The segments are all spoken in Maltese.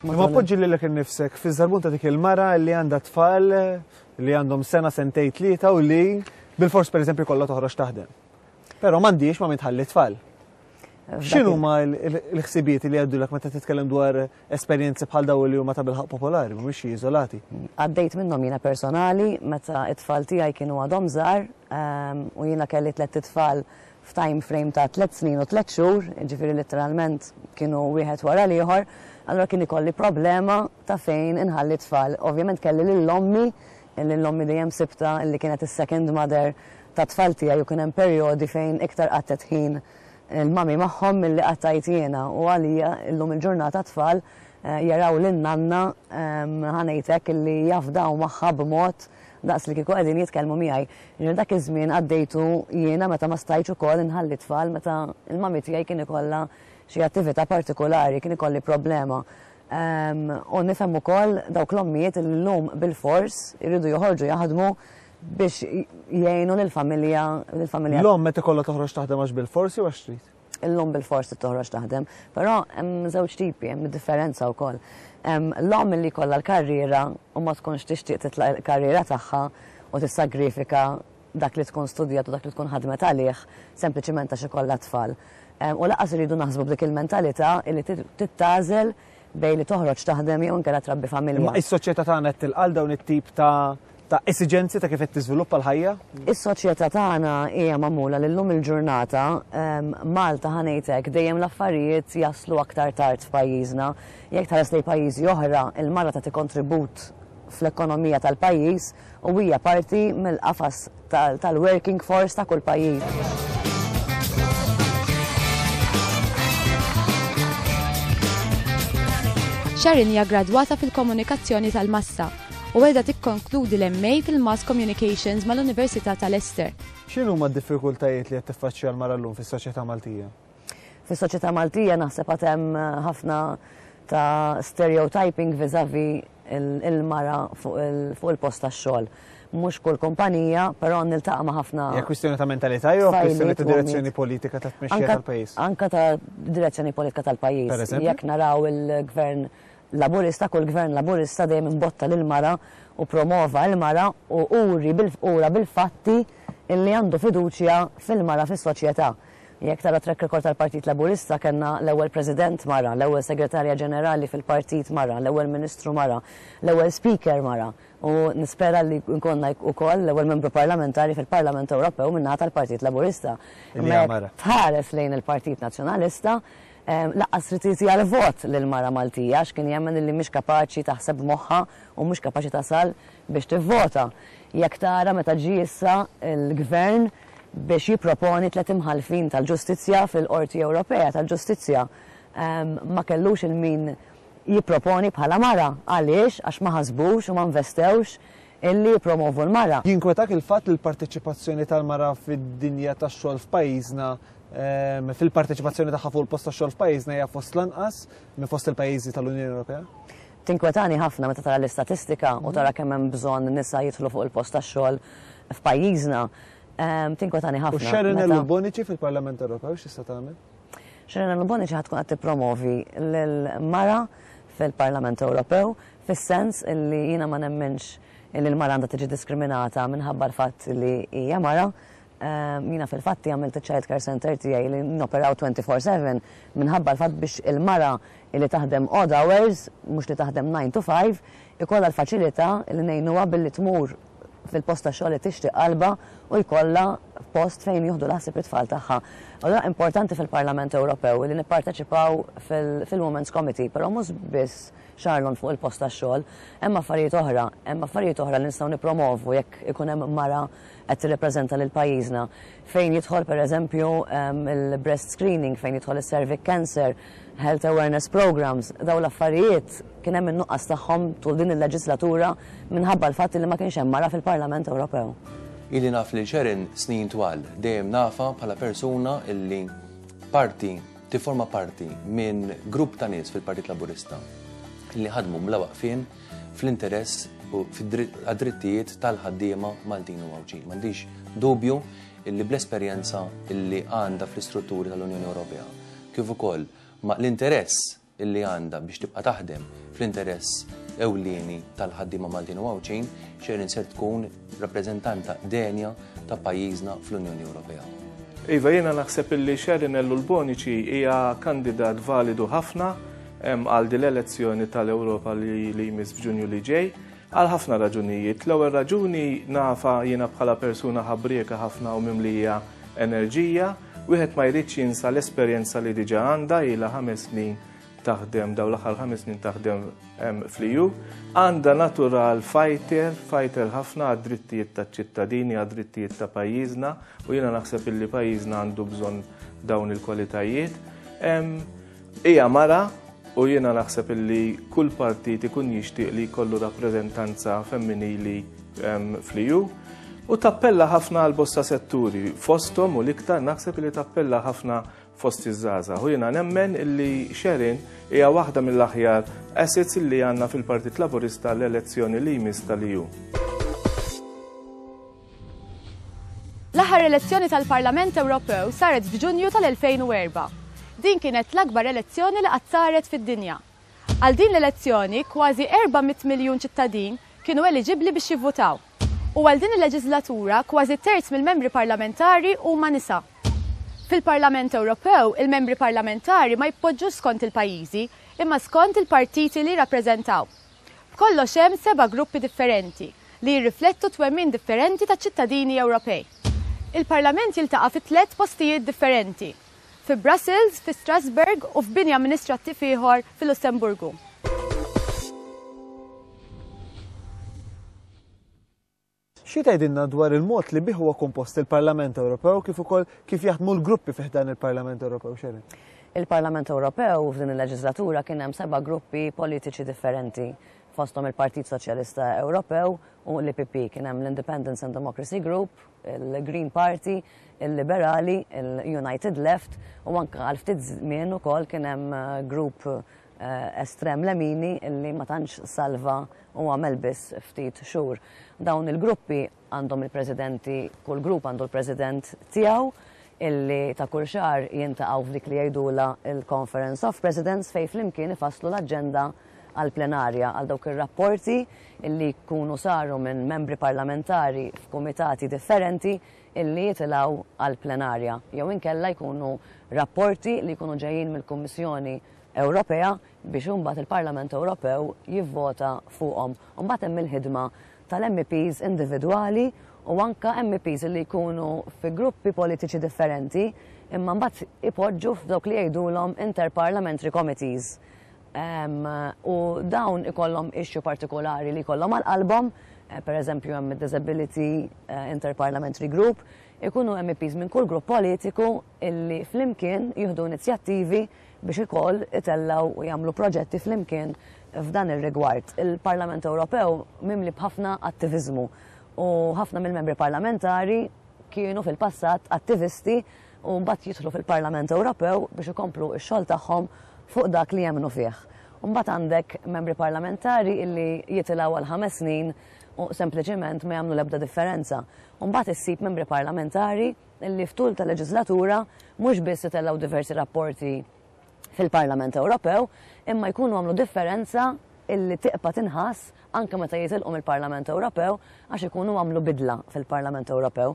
Ma poġġi lilek innifsek fi żarbun ta' dik il-mara li għandha tfal li għandhom sena sentej tlieta u li bil-fors pereżempju kollha toħroġ taħdem. Però m'għandix ma mitħalli tfal. X'inhu ma l-ħsibijiet li għaddulek meta titkellem dwar esperjenzi bħal daw li huma ta' bilħaq popolari, mhumiex iżolati? Għaddejt minnhom jiena personali meta t-tfal tiegħi kienu għadhom żgħar ehm, u jiena kelli tliet tfal f'time frame ta' tliet snin u tliet xhur, jiġifieri litteralment kienu wieħed wara l-ieħor, allura kien ikolli problema ta' fejn inħalli t-tfal. Ovvjament kelli lil ommi, lil ommi dejjem sibtha li kienet is-second mother tat-tfal tiegħi u kien hemm perjodi fejn iktar qatgħet ħin il-mommy magħhom milli qatgħajt jiena u għalija llum il-ġurnata t-tfal jaraw lil nanna ħa ngħid hekk li jafdaw magħha b'mod daqs li kieku qegħdin jitkellmu miegħi. Minn dak iż-żmien għaddejtu jiena meta ma stajtx ukoll inħalli t-tfal meta l-mummy tiegħi kien ikollha xi attività partikulari, kien ikolli problema. U nifhem ukoll dawk l-ommijiet li llum bilfors iridu joħorġu jaħdmu biex jgħinu lill-familja, lill-familja. L-omm meta jkollha toħroġ taħdem għax bilfors jew għax trid? l-omm bil-fors trid toħroġ taħdem, però hemm żewġ tipi, hemm differenza wkoll. L-omm li jkollha l-karriera u ma tkunx tixtieq titlaq il-karriera tagħha u tissagrifika dak li tkun studjat u dak li tkun ħadmet għalih sempliċiment għax ikollha tfal. U laqas iridu naħsbu b'dik il-mentalità li titgħażel bejn li toħroġ taħdem jew inkella trabbi familja. Imma is-soċjetà tagħna qed tilqa' dawn it-tip ta' ta' esiġenzi ta' kif qed tiżviluppa l-ħajja? Is-soċjetà tagħna hija magħmula li llum il-ġurnata ehm, Malta ħanejtek dejjem l-affarijiet jaslu aktar tard f'pajjiżna. Jekk tħares lejn pajjiżi oħra, il-mara ta' kontribut fl-ekonomija tal-pajjiż u hija parti mill-qafas tal-working force ta' kull pajjiż. Sharon hija gradwata fil-komunikazzjoni tal-massa u qiegħda tikkonkludi l-MA fil-Mass Communications mal-Università ta' Leicester. X'inhuma d-diffikultajiet li qed tiffaċċja l-mara llum fis-soċjetà Maltija? Fis-soċjetà Maltija naħseb għad hemm ħafna ta' stereotyping vis-à-vis il-mara fuq il-post tax-xogħol. Mhux kull kumpanija, però niltaqa' ma' ħafna. Hija kwistjoni ta' mentalità jew kwistjoni ta' direzzjoni politika ta' tmexxija tal-pajjiż? Anke ta' direzzjoni politika tal-pajjiż. Jekk naraw il-Gvern Laburista, kull Gvern Laburista dejjem imbotta lill-mara u promova l-mara u uri bil-fatti li għandu fiduċja fil-mara fis-soċjetà. Jekk tara t-track record tal-Partit Laburista kellna l-ewwel President mara, l-ewwel Segretarja Ġenerali fil-Partit mara, l-ewwel Ministru mara, l-ewwel Speaker mara u nispera li jkollna ukoll l-ewwel Membru Parlamentari fil-Parlament Ewropew min-naħa tal-Partit Laburista. Imma jekk tħares lejn il-Partit Nazzjonalista lanqas trid tagħti għall-vot lil mara Maltija għax kien jemmen illi mhix kapaċi taħseb b'moħħha u mhux kapaċi tasal biex tivvota jekk tara meta ġie issa l-Gvern biex jipproponi tliet imħallfin tal-ġustizzja fil-Qorti Ewropea tal-Ġustizzja ma kellux il min jipproponi bħala mara. Għaliex? Għax ma ħasbux u ma nvestewx illi jippromovu l-mara. Jinkwetak il-fatt li l-parteċipazzjoni tal-mara fid-dinja tax-xogħol f'pajjiżna fil-parteċipazzjoni tagħha fuq il-post tax-xogħol f'pajjiżna hija fost l-anqas minn fost il-pajjiżi tal-Unjoni Ewropea? Tinkwetani ħafna meta tara l-istatistika u tara kemm hemm bżonn nisa jidħlu fuq il-post tax-xogħol f'pajjiżna. Tinkwetani ħafna meta. U Sharonellu Bonnici fil-Parlament Ewropew x'tista' tagħmel? Sharonellu Bonnici ħad tkun qed tippromovi l-mara fil-Parlament Ewropew fis-sens li jiena ma nemminx li l-mara għandha tiġi diskriminata minħabba l-fatt li hija mara, Jiena fil-fatt għamilt iċ-child care centre tiegħi li noperaw 24 four seven minħabba l-fatt biex il-mara li taħdem odd hours, mhux li taħdem nine to five, ikollha l-faċilità li ngħinuha billi tmur fil-post ta' xogħol li tixtieq qalbha u jkollha post fejn jieħdu l-ħsieb it-tfal tagħha. Allura importanti fil-Parlament Ewropew li nipparteċipaw fil-Women's Committee, però mhux biss xarlon fuq il-post ta' xogħol, hemm affarijiet oħra, hemm affarijiet oħra li nistgħu nippromovu jekk ikun hemm mara qed tirrepreżenta lil pajjiżna fejn jidħol pereżempju il-breast screening, fejn jidħol is-cervic cancer, health awareness programmes, dawn l-affarijiet kien hemm in-nuqqas tagħhom tul din il-leġislatura minħabba l-fatt li ma kienx hemm mara fil-Parlament Ewropew. Ili naf lil Sharon snin twal, dejjem nafha bħala persuna li parti, tifforma parti minn grupp ta' nies fil-Partit Laburista li ħadmu bla waqfien, fl-interess u għad-drittijiet tal-ħaddiema Maltin u Għawdxin. M'għandix dubju illi bl-esperjenza illi għandha fl-istrutturi tal-Unjoni Ewropea, kif ukoll ma' l-interess illi għandha biex tibqa' taħdem fl-interess ewlieni tal-ħaddiema Maltin u Għawdxin, xejn ser tkun rappreżentanta denja ta' pajjiżna fl-Unjoni Ewropea. Iva, jiena naħseb illi Sharon Ellu l-Bonici hija kandidat validu ħafna għal din l-elezzjoni tal-Ewropa li jmiss f'Ġunju li ġej għal ħafna raġunijiet. L-ewwel raġuni nafa jiena bħala persuna ħabrieka ħafna u mimlija enerġija, wieħed ma jridx jinsa l-esperjenza li diġà għandha ilha ħames snin taħdem daw l-aħħar ħames snin taħdem fl-EU, għandha natural fighter, fighter ħafna għad-drittijiet ta' ċittadini, għad-drittijiet ta' pajjiżna, u jiena naħseb illi pajjiżna għandu bżonn dawn il-kwalitajiet. Ija mara u jiena naħseb illi kull partit ikun jixtieq li jkollu rappreżentanza femminili fl-EU. U tappella ħafna għal bosta setturi, fostom u liktar naħseb li tappella ħafna fost iż-żgħażagħ u jiena nemmen li Sharon hija waħda mill-aħjar assets li għandna fil-Partit Laburista l-elezzjoni li jmiss tal-EU. L-aħħar elezzjoni tal-Parlament Ewropew saret f'Ġunju tal-2004. Din kienet l-akbar elezzjoni li qatt saret fid-dinja. Għal din l-elezzjoni, kważi 400 miljun ċittadin kienu eliġibbli biex jivvutaw. U għal din il-leġislatura, kważi terz mill-membri parlamentari huma nisa. Fil-Parlament Ewropew, il-membri parlamentari ma jitpoġġux skont il-pajjiżi, imma skont il-partiti li jirrappreżentaw. B'kollox hemm seba' gruppi differenti, li jirriflettu t-twemmin differenti taċ-ċittadini Ewropej. Il-Parlament jiltaqa' fi tliet postijiet differenti, fi Brussels, fi Strasbourg u f'bini amministrattiv ieħor fil-Lussemburgu. Xi tgħidilna dwar il-mod li bih huwa kompost il-Parlament Ewropew kif ukoll kif jaħdmu l-gruppi fi ħdan il-Parlament Ewropew, Sharon? Il-Parlament Ewropew f'din il-leġislatura kien hemm seba' gruppi politiċi differenti, fosthom il-Partit Soċjalista Ewropew u l-EPP. Kien hemm l-Independence and Democracy Group, il-Green Party, il-Liberali, il-United Left u anke għal ftit żmien ukoll kien hemm grupp estrem lemini li ma tantx salva u għamel biss ftit xhur. Dawn il-gruppi għandhom il-presidenti, kull grupp għandu l-president tiegħu illi ta' kull xahar jintaqgħu f'dik li jgħidula il-Conference of Presidents fejn flimkien ifasslu l-aġenda għall-plenarja għal dawk ir-rapporti illi jkunu saru minn membri parlamentari f'kumitati differenti illi jitilgħu għall-plenarja jew inkella jkunu rapporti li jkunu ġejjin mill-Kummissjoni Ewropea biex imbagħad il-Parlament Ewropew jivvota fuqhom. Imbagħad hemm il-ħidma tal-MEPs individwali u anke MEPs li jkunu fi gruppi politiċi differenti imma mbagħad ipoġġu f'dawk li jgħidulhom interparliamentary committees. Um, u dawn ikollhom issue partikolari li jkollhom għal qalbhom, eh, per eżempju hemm Disability eh, Interparliamentary Group, ikunu MEPs minn kull grupp politiku illi flimkien jieħdu inizjattivi biex ikoll itellgħu u jagħmlu proġetti flimkien f'dan ir-rigward. Il-Parlament Ewropew mimli b'ħafna attiviżmu u ħafna mill-membri parlamentari kienu fil-passat attivisti u mbagħad jidħlu fil-Parlament Ewropew biex ikomplu x-xogħol tagħhom fuq dak li jemmnu fih. Mbagħad għandek membri parlamentari illi jitilgħu għal ħames snin u sempliċiment ma jagħmlu l-ebda differenza. Mbagħad issib membri parlamentari li f'tul ta' leġiżlatura mhux biss itellgħu diversi rapporti fil-Parlament Ewropew imma jkunu għamlu differenza illi tiqpa' tinħass anke meta jitilqu mill-Parlament Ewropew għax ikunu għamlu bidla fil-Parlament Ewropew.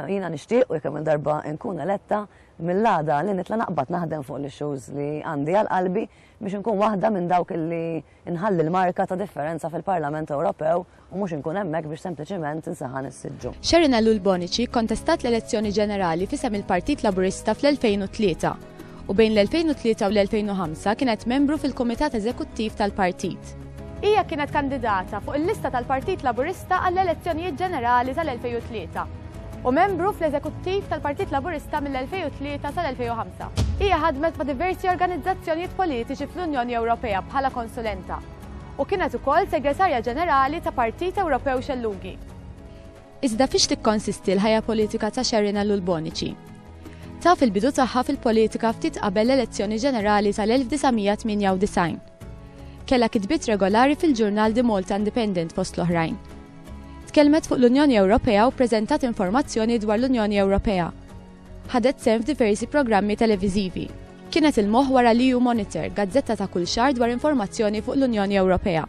Jiena nixtieq u jekk hemm il-darba nkun eletta mill-għada li nitla' naqbad naħdem fuq l-issues li għandi għal qalbi biex inkun waħda minn dawk illi Inħalli l-marka ta' differenza fil-Parlament Ewropew u mhux inkun hemmhekk biex sempliċiment insaħan is-siġġu. Sharon Ellul Bonnici kkontestat l-elezzjoni ġenerali f'isem il-Partit Laburista fl-2003, u bejn l-2003 u l-2005 kienet membru fil-Kumitat Eżekuttiv tal-Partit. Hija kienet kandidata fuq il-lista tal-Partit Laburista għall-elezzjonijiet ġenerali tal-2003. u membru fl-Eżekuttiv tal-Partit Laburista mill-2003 sal-2005. Hija ħadmet ma' diversi organizzazzjonijiet politiċi fl-Unjoni Ewropea bħala konsulenta u kienet ukoll Segretarja Ġenerali ta' Partit Ewropew Xellugi. Iżda fiex tikkonsisti l-ħajja politika ta' Sharon Ellul Bonici? Taf il-bidu tagħha fil-politika ftit qabel l-elezzjoni ġenerali tal-1998. Kellha kitbiet regolari fil-ġurnal The Malta Independent fost l-oħrajn. Tkellmet fuq l-Unjoni Ewropea u ppreżentat informazzjoni dwar l-Unjoni Ewropea. Ħadet sehem f'diversi programmi televiżivi. Kienet il-moħħ wara l-EU Monitor, gazzetta ta' kull xahar dwar informazzjoni fuq l-Unjoni Ewropea.